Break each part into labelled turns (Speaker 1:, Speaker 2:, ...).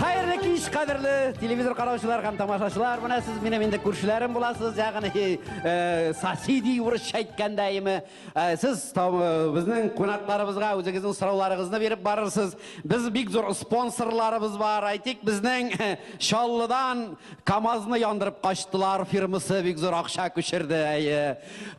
Speaker 1: Хәерле кич, кадерле телевизор караучылар һәм тамашачылар. Менә сез минем инде күршеләрем буласыз, ягъни э, соседи урысча әйткәндә име. Э, сез там, э, безнең кунакларыбызга үзегезнең сорауларыгызны биреп барырсыз. Без бик зур спонсорларыбыз бар. Әйтик, безнең э, Чаллыдан КАМАЗны яндырып качтылар фирмасы бик зур акча күчерде. Әйе.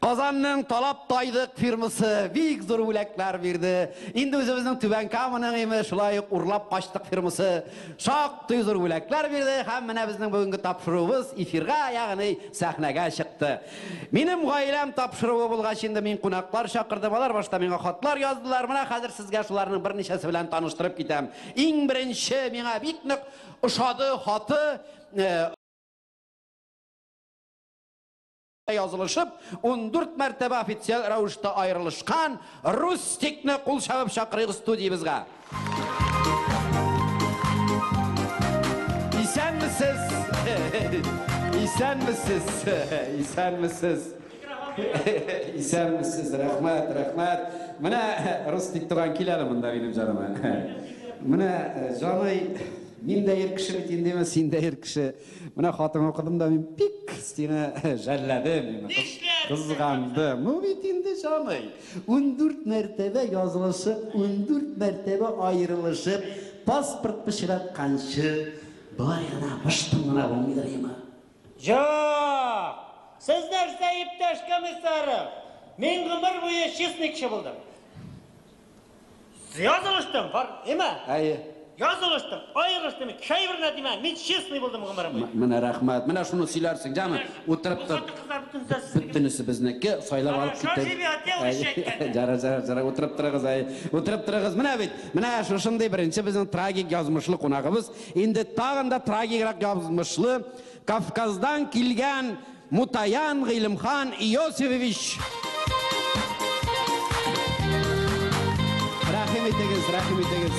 Speaker 1: Казанның Талап тайдык фирмасы бик зур бүләкләр бирде. Инде үзебезнең Түбән Каманың име, шулай ук Урлап качтык фирмасы шактый зур бүләкләр бирде һәм менә безнең бүгенге тапшыруыбыз эфирга, ягъни сәхнәгә чыкты. Минем гаиләм тапшыруы булгач инде мин кунаклар чакырдым. Алар башта миңа хатлар яздылар. Менә хәзер сезгә шуларның берничәсе белән таныштырып китәм. Иң беренче миңа бик нык ошады хаты. язылышып, ундүрт мәртәбә официаль рәвештә аерылышкан Рустикны кул чабып чакырыйк студиябезгә. Исәнмесез! Исәнмесез! Исәнмесез! Исәнмесез! Рәхмәт, рәхмәт! Менә Рустик туган кил әле монда минем җаныма. Менә, җаный, мин дә ир кеше бит инде, син дә ир кеше. Менә хатыңа укыдым да, мин бик сине жәлләдем, кызгандым. Ну бит инде җаный. 14 мәртәбә язылышып, 14 мәртәбә аерылышып, паспорт пычратканчы, болай гына мыштым гына булмыйдыр имы? Җоок! Сез нәрсә, иптәш комиссаров? Мин гомер буе чистникчы булдым. Язылыштым, бар, әйме? Әйе. Язылыштым, аерылыштым, чәй берлә димә, мин честный булдым гомерем. Менә рәхмәт, менә шуны сөйләрсең, җаны, утырып тор. Бөтенесе безнеке, сайлап алып китеп. Жара, жара, жара, утырып торыгыз, әй, утырып торыгыз. Менә бит, менә шушындый беренче безнең трагик язмышлы кунагыбыз, инде тагын да трагиграк язмышлы, Кавказдан килгән Мутаян Гыйлемхан Иосифович! Рәхим итегез, рәхим итегез!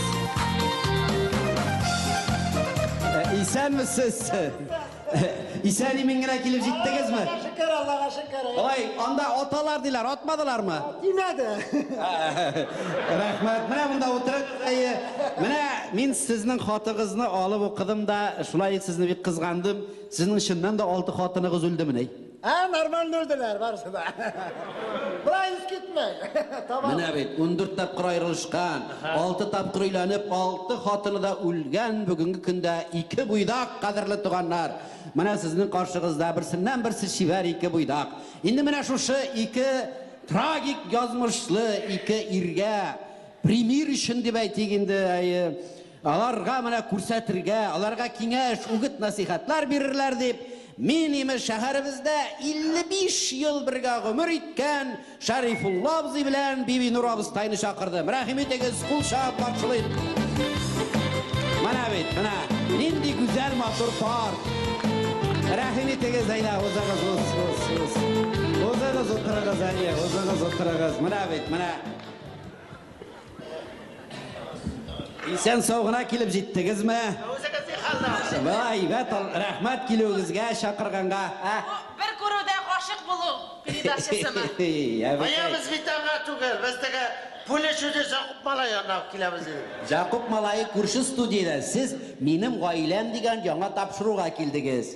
Speaker 1: Исәнмесез! Исән-имин генә килеп җиттегезме? Аллага шөкер, Аллага шөкер. Ой, анда аталар диләр, атмадылармы? Тимәде. Рәхмәт. Менә монда утырыгыз, әйе. Менә мин сезнең хатыгызны алып укыдым да, шулай сезне бик кызгандым. Сезнең чыннан да алты хатыныгыз үлдемени? Ә, нормально үлделәр барысы да. Болай ис китмәй. Табам. Менә бит, ундүрт тапкыр аерылышкан, алты тапкыр өйләнеп, алты хатыны да үлгән, бүгенге көндә ике буйдак, кадерле туганнар. Менә сезнең каршыгызда берсеннән-берсе чибәр ике буйдак. Инде менә шушы ике трагик язмышлы ике иргә примир өчен дип әйтик инде, әйе, Аларга менә күрсәтергә, аларга киңәш, үгет-насыйхатлар бирерләр дип, мин, имеш, шәһәребездә 55 ел бергә гомер иткән Шәрифулла абзый белән Бибинур абыстайны чакырдым. Рәхим итегез, кул чагып каршылыйк. Менә бит, менә, нинди гүзәл, матур пар. Рәхим итегез, әйдә, узыгыз, уз, уз, уз. Узыгыз, утырыгыз, әйе, узыгыз, утырыгыз. Менә бит, менә. Исән сау гына килеп җиттегезме? Үзегез ни хәлдә? Шулай, әйбәт, рәхмәт килүегезгә, чакырганга. Бер күрүдә гашык булу передачасымы? Каябыз бит аңа түгел, без теге Пуля чудес Якуп малай янына ук киләбез инде. Якуп малае күрше студиядә, сез Минем гаиләм дигән яңа тапшыруга килдегез.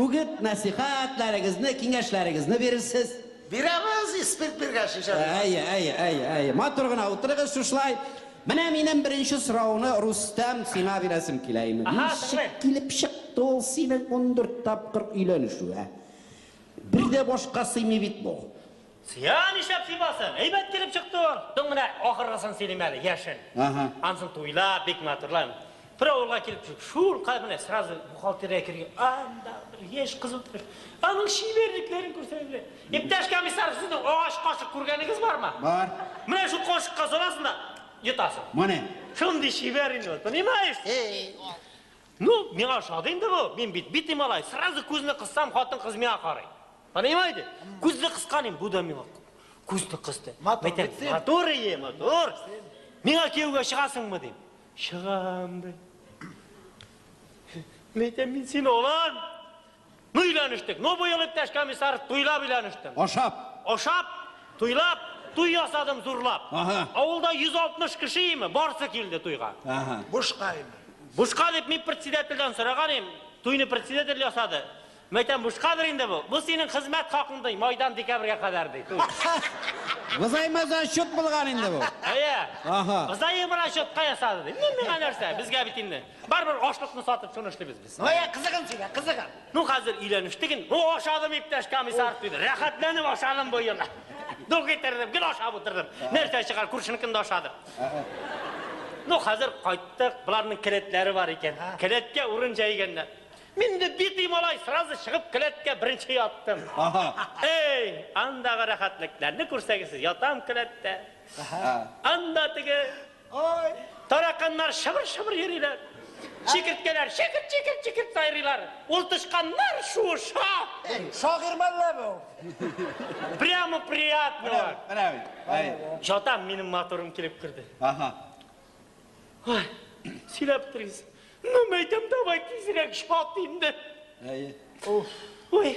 Speaker 1: Үгет-нәсыйхәтләрегезне, киңәшләрегезне бирерсез. Бирәбез, испит биргәч, ничә бирмәссең. Әйе, әйе, әйе, әйе. Матур гына утырыгыз шушылай. Менә минем беренче сорауны, Рустәм, сиңа бирәсем килә инде. Аһа, тыңлыйм. Ничек килеп чыкты ул синең ундүрт тапкыр өйләнешү, ә? Бер дә башка сыймый бит бу. Сыя нишләп сыйбасын? Әйбәт килеп чыкты ул. Тың менә ахыргысын сөйлим әле, яшен. Ага. Ансын туйлап, бик матурлап. Бер авылга килеп чык. Шул кай менә сразу бухгалтерия кергән. Анда бер яшь кыз утыр. Аның шиберлекләрен күрсәгез. Иптәш комиссар, сезнең агач кашык күргәнегез бармы? Бар. Менә шул кашыкка саласың да йотасың. Моне. Шундый шибәр инде ул, понимаешь? Ну, миңа ошады инде бу. Мин бит бити малай. Сразу күзне кыссам, хатын-кыз миңа карый. Понимаете? Күзне кысканым, бу да миңа күзне кысты. Матур, битсен. Матур ие, матур. Миңа кияүгә чыгасыңмы дим. Чыгам ди. Мәйтәм, мин сине алам. Ну өйләнештек. Ну быел, иптәш комиссар, туйлап өйләнештем. Ашап. Ашап, туйлап, туй ясадым зурлап. Ага. Авылда 160 кеше име, барсы килде туйга. Ага. Бушка име. Бушка дип мин председательдән сораган им, туйны председатель ясады. Мәйтәм, бушкадыр инде бу. Бу синең хезмәт хакың ди, майдан декабрьгә кадәр ди. Взаимоза счет булган инде бу. Әйе. Ага. Взаимоза счетка ясады ди. Мин миңа нәрсә? Безгә бит инде. Барбер ашлыкны сатып шуны эшлибез без. Ноя, кызыгын сөйлә, кызыгын. Ну, хәзер өйләнештек инде. Ну, ашадым, иптәш комиссар, диде. Рәхәтләнеп ашадым бу елны. Ну, китердем, гел ашап утырдым. Нәрсә чыгар, күршенекен дә ашадым. Ну, хәзер кайттык, боларның келәтләре бар икән. Келәткә урын җәйгәннәр. Мин инде битый малай, сразу чыгып келәткә беренче яттым. Эй, андагы рәхәтлекләрне күрсәгез, ятам келәттә. Анда теге Тараканнар шыбыр-шыбыр йөриләр. Чикерткәләр чикерт-чикерт-чикерт сайрыйлар. Ул тычканнар шуыша. Шагыйрь мәллә бу? Прямо приятно аңа. Менә бит. Әй. Ятам, минем матурым килеп керде. Аһа. Ай, сөйләп бетерегез. Ну, мәйтәм, давай тизрәк ят инде. Әйе. Уф. Уй.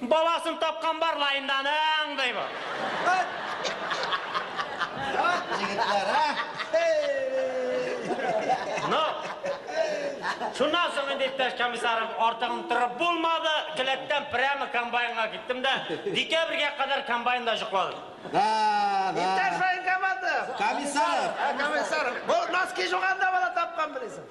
Speaker 1: Баласын тапкан бар лаенданың, ди бу. Җегетләр, ә? Ну, шуннан соң инде иптәш комиссарым артыгын торып булмады, келәттән прямо комбайнга киттем дә, декабрьгә кадәр комбайнда җокладым. Да, да. Иптәш военкоматов! Комиссаров! Ә, комиссаров, бу носки жуганда бала тапкан, белисең.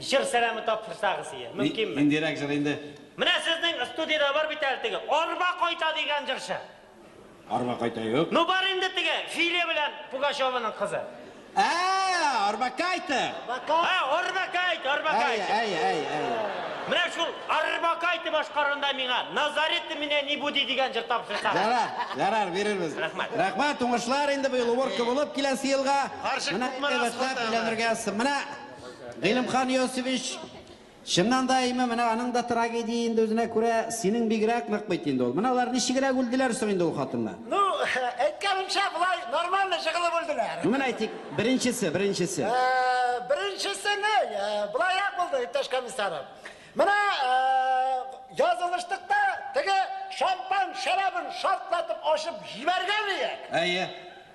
Speaker 1: Җыр сәламе тапшырсагыз ие, мөмкинме? Ни, ниндирәк җыр инде? Менә сезнең студиядә бар бит әле теге Арба кайта дигән җырчы. Арба кайта юк. Ну бар инде теге Филя белән Пугачеваның кызы. Ә, Арба кайта! Ә, Арба кайта, Арба кайта. Әйе, әйе, әйе, әйе. Менә шул Арба кайта башкаруында миңа Назари ты меня не буди дигән җыр тапшырсагыз. Ярар, ярар, бирербез. Рәхмәт. Рәхмәт, уңышлар инде быел уборка булып киләсе елга. Карчык Менә күпме рәхмәт, рәхмәт. өйләнергә. Менә Гыйлемхан Иосифович, чыннан да әйме, менә аның да трагедия инде үзенә күрә, синең бигрәк нык бит инде ул. Менә алар ничегрәк үлделәр соң инде ул хатыннар? Ну, әйткәнемчә, болай нормально җыгылып үлделәр. Ну, менә әйтик, беренчесе, беренчесе. Беренчесе ни, болайрак булды, иптәш комиссарым. Менә язылыштык та, теге шампан шәрабын шартлатып ачып җибәргән иек. Әйе.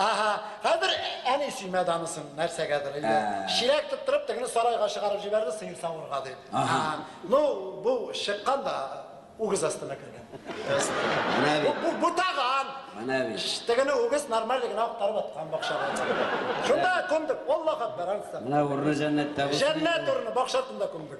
Speaker 1: Аһа, хәзер әни сөймә дамысын нәрсәгәдер инде. Чирәк тоттырып тегене сарайга чыгарып җибәрде сыер савырга дип. Аһа. Ну, бу чыккан да үгез астына кергән. Менә бит. Бу бутаган. Менә бит. Тегене үгез нормаль гына актарып аткан бакчага. Шунда күмдек. Аллаһ акбар, ансыз да. Менә урыны җәннәттә булсын. Җәннәт урыны бакча артында күмдек.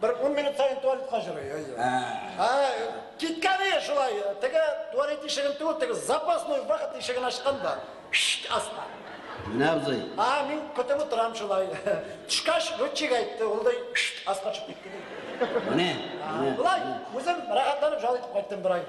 Speaker 1: Бер ун минут саен туалетка җөрый. Ә, киткән ие шулай. Теге туалет ишеген түгел, теге запасной вахт ишеген ачкан да. Шшт, аста. Менә абзый. А, мин көтеп утырам шулай. Төшкәч, летчик әйтте, ул да шшт, аска төшеп китте. Менә. Болай, үзем рәхәтләнеп җал итеп кайттым бер ай.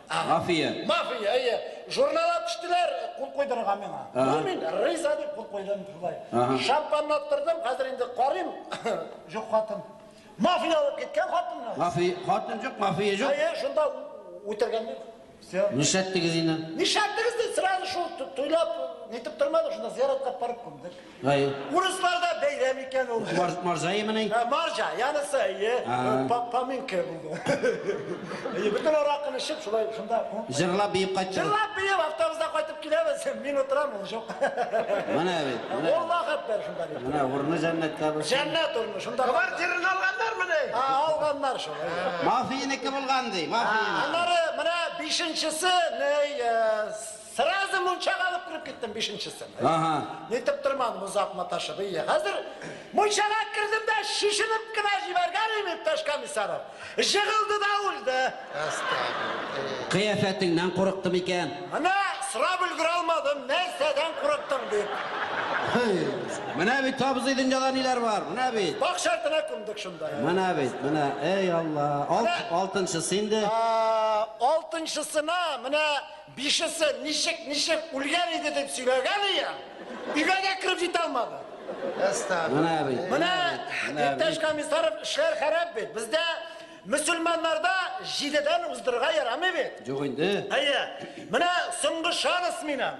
Speaker 1: Ага. Мафия. Мафия, әйе. Журнал төштеләр, кул куйдырдым миңа. Ага. Ну, мин риза дип кул куйдым шулай. Ага. Шампанны аттырдым, хәзер инде карыйм. Юк хатын. Мафия алып киткән хатынны. Мафия, хатын юк, мафия юк. Әйе, шунда үтергән юк. Все. Нишләттегез инде? Нишләттегез дип сразу шул ту- туйлап нитеп тормадык, шунда зияраткап барып күмдек. Урыслар да бәйрәм икән ул. Маржай мени? Маржа, янысы, әйе. Паминка булды. Әйе, бөтен аракын эчеп, шулай шунда. Җырлап биеп кайтты. Җырлап биеп автобуста кайтып киләбез. Мин утырам, ул җок. Менә бит. Ул вакыт бер шунда. Менә урны җәннәттә булсын. Җәннәт урны, шунда. Квартираны алганнар мени? А, алганнар шул. Мафиянеке булган ди, мафия. Аннары менә бишенчесе, ней, Сразу мунчага алып кереп киттем бишенчесен. Ага. Нитеп тормадым озак маташып. Ие, хәзер мунчага кердем дә шешенеп кенә җибәргән иптәш комиссаров. Җыгылды да үлде. Әстәгфирулла. Кыяфәтеңнән курыкты микән? Менә сорап өлгерә алмадым, нәрсәдән курыктың дип. Менә бит абзый дөньяда ниләр бар, менә бит. Бак шартына күмдек шунда. Менә бит, менә, эй Алла. Алтынчысы инде. Алтынчысына менә Бишесе ничек, ничек үлгән иде дип сөйләгән икән, өйгә дә кереп җитә алмады. Менә бит. Менә иптәш Комиссаров эшләр хәрәп бит. Бездә мөселманнарда җидедән уздырырга ярамый бит. Юк инде. Әйе. Менә соңгы шанс минем.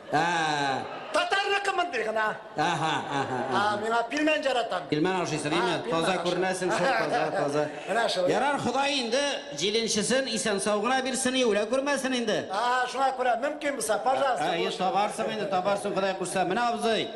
Speaker 1: Татарныкы мондый гына. Аха, аха. А, миңа пилмән жаратам. Пилмән ашыйсың, име? Таза күренәсең, шул таза, таза. Менә шул. Ярар, Ходай инде җиденчесен исән-сау гына бирсен, юлә күрмәсен инде. А, шуңа күрә мөмкин булса, пожалуйста. Әйе, табарсың инде, табарсың, Ходай кушса. Менә абзый,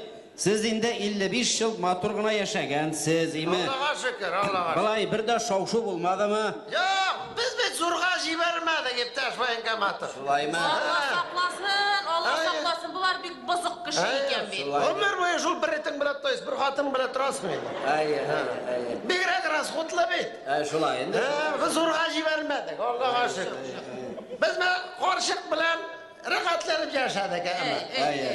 Speaker 1: Сез инде 55 ел матур гына яшәгәнсез, име? Аллага шөкер, Аллага шөкер. Былай бер дә шау-шу булмадымы? Юк, без бит зурга җибәрмәдек, иптәш военкоматов. Шулаймы? Алла сакласын, Алла сакласын, болар бик бозык кеше икән бит. Гомер буе шул бер этең белән тотасың, бер хатының белән торасың инде. Әйе, әйе, әйе. Бигрәк расходлы бит. Ә, шулай инде. Без зурга җибәрмәдек, Аллага шөкер. Без менә карчык белән Рәхәтләнеп яшәдек, әмма.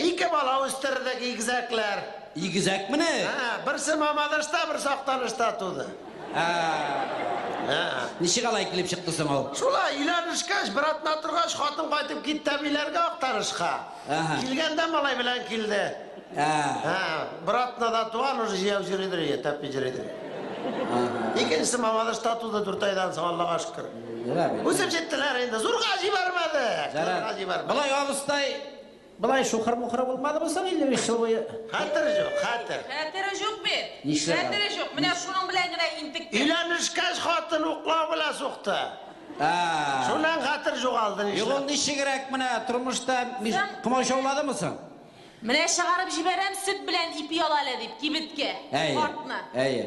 Speaker 1: Ике бала үстердек, игезәкләр. Игезәкмени? Ә, берсе Мамадышта, берсе Актанышта туды. Ә. Ничек алай килеп чыкты соң ул? Шулай, өйләнешкәч, бер атна торгач, хатын кайтып китте әбиләргә Актанышка. Килгәндә малай белән килде. Ә, бер атнада туган уже җыяп йөридер, я тәпи йөридер. Икенчесе Мамадышта туды дүрт айдан соң, Аллага шөкер. Үсеп җиттеләр инде, зурга җибәрмәде. Зурга җибәрмәде. Былай абыстай, былай шухыр-мухыр булмадымы соң 55 ел буе? Хәтер җук, хәтер. Хәтере җук бит. Нишләп? Хәтере җук. Менә шуның белән генә интекте. Өйләнешкәч хатын уклау белән сукты. Ә. Шуннан хәтер җугалды нишләп? Югыл ничегрәк менә тормышта миш- Сан- комачауладымы соң? Менә чыгарып җибәрәм, сөт белән ипи ал әле, дип, кибеткә, Әйе, картны. әйе.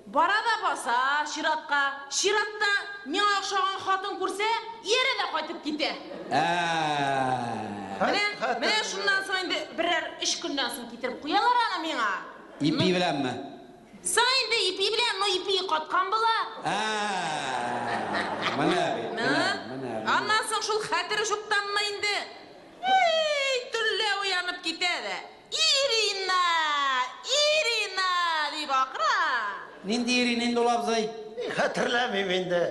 Speaker 1: Бара да баса, чиратка. Чиратта миңа охшаган хатын күрсә, иярә дә кайтып китә. Ә-ә-ә. Менә, менә шуннан соң инде берәр өч көннән соң китереп куялар аны миңа. Ипи беләнме? Соң инде ипи белән, но ипи каткан була. Ә-ә-ә. Менә бит, менә, менә, менә. Аннан соң шул хәтер шуктанмы инде. Һи-и-и, төнлә уянып китә дә, Ирина! Ирина! дип акыра. Нинди Ирина инде ул, абзый? Хәтерләмим инде,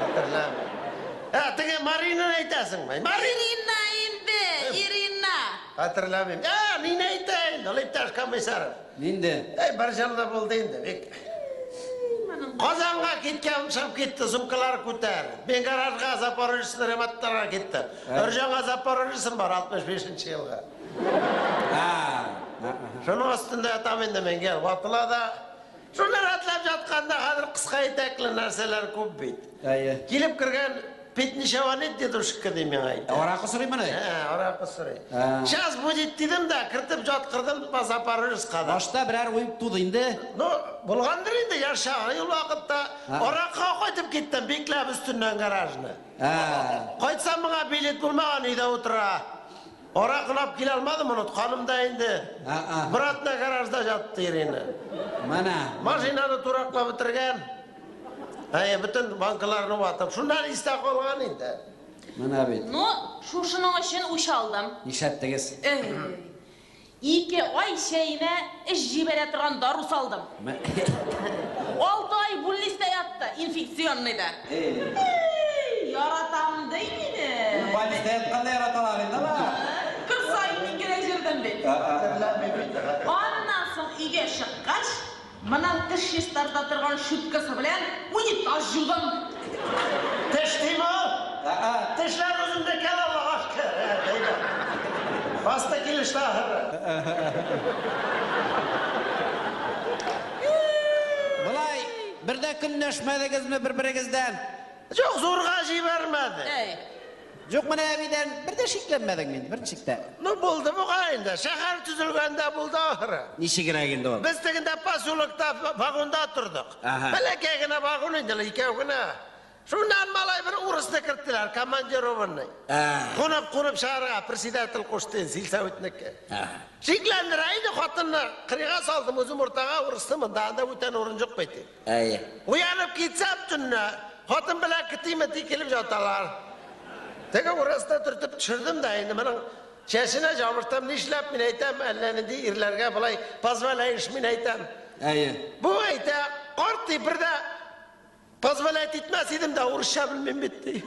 Speaker 1: хәтерләмим. Ә, теге Маринаны әйтәсеңме? Марин! Ирина инде, Ирина! Хәтерләмим. Ә, мин әйтәйин ул, иптәш Комиссаров. Нинди? Әй, бер җылда булды инде, бик. Казанга киткән, чыгып китте, сумкалар күтәреп. Мин гаражга Запорожецны ремонтларга киттем. Ырҗаңа Запорожецым бар, 65 нче елгы. Шуның астында ятам инде мин, гел ватыла да. Шунда рәтләп ятканда, хәзер кыска итәкле нәрсәләр күп бит. Әйе. Килеп кергән Пятничева нет дедушка ди миңа әйтә. Ә аракы сорыймыни? Ә, аракы сорый. Сейчас будет дидем дә, кертеп яткырдым по Запорожецка да. Башта берәр уй туды инде? Ну, булгандыр инде, яшь чагы ул вакытта. Аракыга кайтып киттем, бикләп өстеннән гаражны. Кайтсам моңа билет булмаган өйдә утыра. Ара кылап килә алмадым, онытканым да инде. Братна гаражда жатты Ирина. Менә. Машинаны тураклап бетергән. Әйе, бөтен банкаларны ватып. Шуннан истә калган инде. Менә бит. Ну, шушының өчен үч алдым. Нишләттегез? Эй. Ике ай чәемә эч җибәрә торган дару салдым. Алты ай бүлнистә ятты, инфекционныйда. Яратам ди мине. Больниста ятканда яраталар инде алар. Көн саен мин генә җөрдем бит. Аннан соң өйгә чыккач, Моның теш чистарта торган щуткасы белән унитаз җугам. Теш тими ул? Ә-ә, тешләр үземнеке ул, агач кер, ә, тиде. Басты килеште, ахыры. Болай бер дә көнләшмәдегезме бер-берегездән? Юк, зурга җибәрмәде. Әй. Юк, менә әбидән бер дә шикләнмәдең мин, бер ничек тә. Ну, булды буга инде. Шәһәр төзелгәндә булды ахыры. Ничегрәк инде ул? Без тегендә поселокта вагонда тордык. Ага. Бәләкәй генә вагон инде, икәү генә. Шуннан малай бер урысны керттеләр, командированный. Кунып, кунып чыгарга председатель кушты, сельсоветники. Шикләндерә инде хатынны. Кырыйга салдым, үзем уртага, урысны монда, анда бүтән урын юк бит. Әйе. Уянып китсәм төнлә, хатын белән кети-мети килеп яталар. Теге урысны төртеп төшердем дә инде моның чәченә җабырттым, нишләп мин әйтәм, әллә нинди ирләргә болай позволяешь мин әйтәм. Әйе. Бу әйтә, карт ди, бер дә позволять итмәс идем дә, урысча белмим бит ди.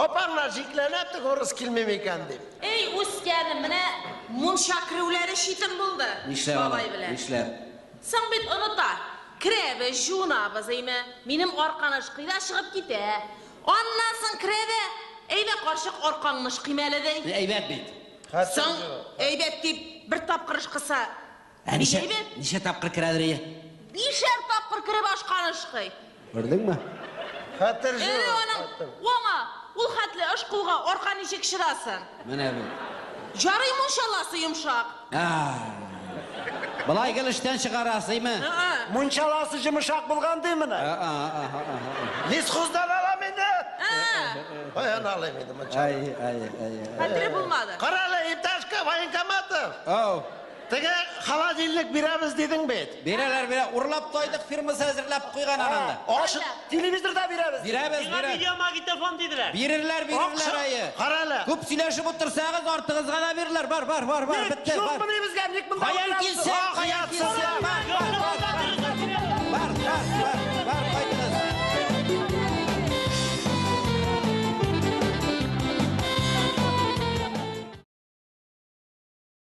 Speaker 1: Апаңнар шикләнә тек урыс килмим икән дип. Эй, үскәнем, менә мунча керүләре читен булды. Нишләп алай, нишләп? Соң бит оныта. Керәбез, җуынабыз, әйме. Минем арканы ышкый да чыгып китә. Аннан соң керә дә, Әйдә, карчык, аркаңны ышкыйм әле, ди. Әйбәт бит. Соң, әйбәт дип, бер тапкыр ышкыса, Ә ничә, Әйе бит. ничә тапкыр керәдер ие? Бишәр тапкыр кереп ашкан ышкый. Күрдеңме? Хәтер Эре җур. аның уңа, ул хәтле ышкуга арка ничек чыдасын? Менә бу. Ярый мунчаласы йомшак. А. Былай гел эштән чыгарасыймы? Ы-ы. Мунчаласы җымышак булган ди менә. А, а, а, а, а. Лесхоздан алам инде. Ы-ы. Каян алыйм инде мунча? Ай, ай, ай, ай. Хәтере булмады. Кара әле, иптәш К- Военкоматов. Ау. Теге холодильник бирәбез дидең бит. Бирәләр, бирә. Урлап тойдык фирмасы әзерләп куйган ананда. Акча Бирәләр. телевизор да бирәбез. Бирәбез, Миңа бирәбез. видеомагнитофон диделәр. Бирерләр, бирерләр, әйе. Кара әле. Күп сөйләшеп утырсагыз, артыгызга да бирерләр. Бар, бар, бар, бар, Ник бетте, бар. юкмыни безгә? Ник монда Каян утырабыз? килсен, Ах, каян ятсыз килсен? я. Бар, бар, Юкны бар, монда бар, дөрес бар, бирәләр. бар, бар, бар, бар, кайтыгыз.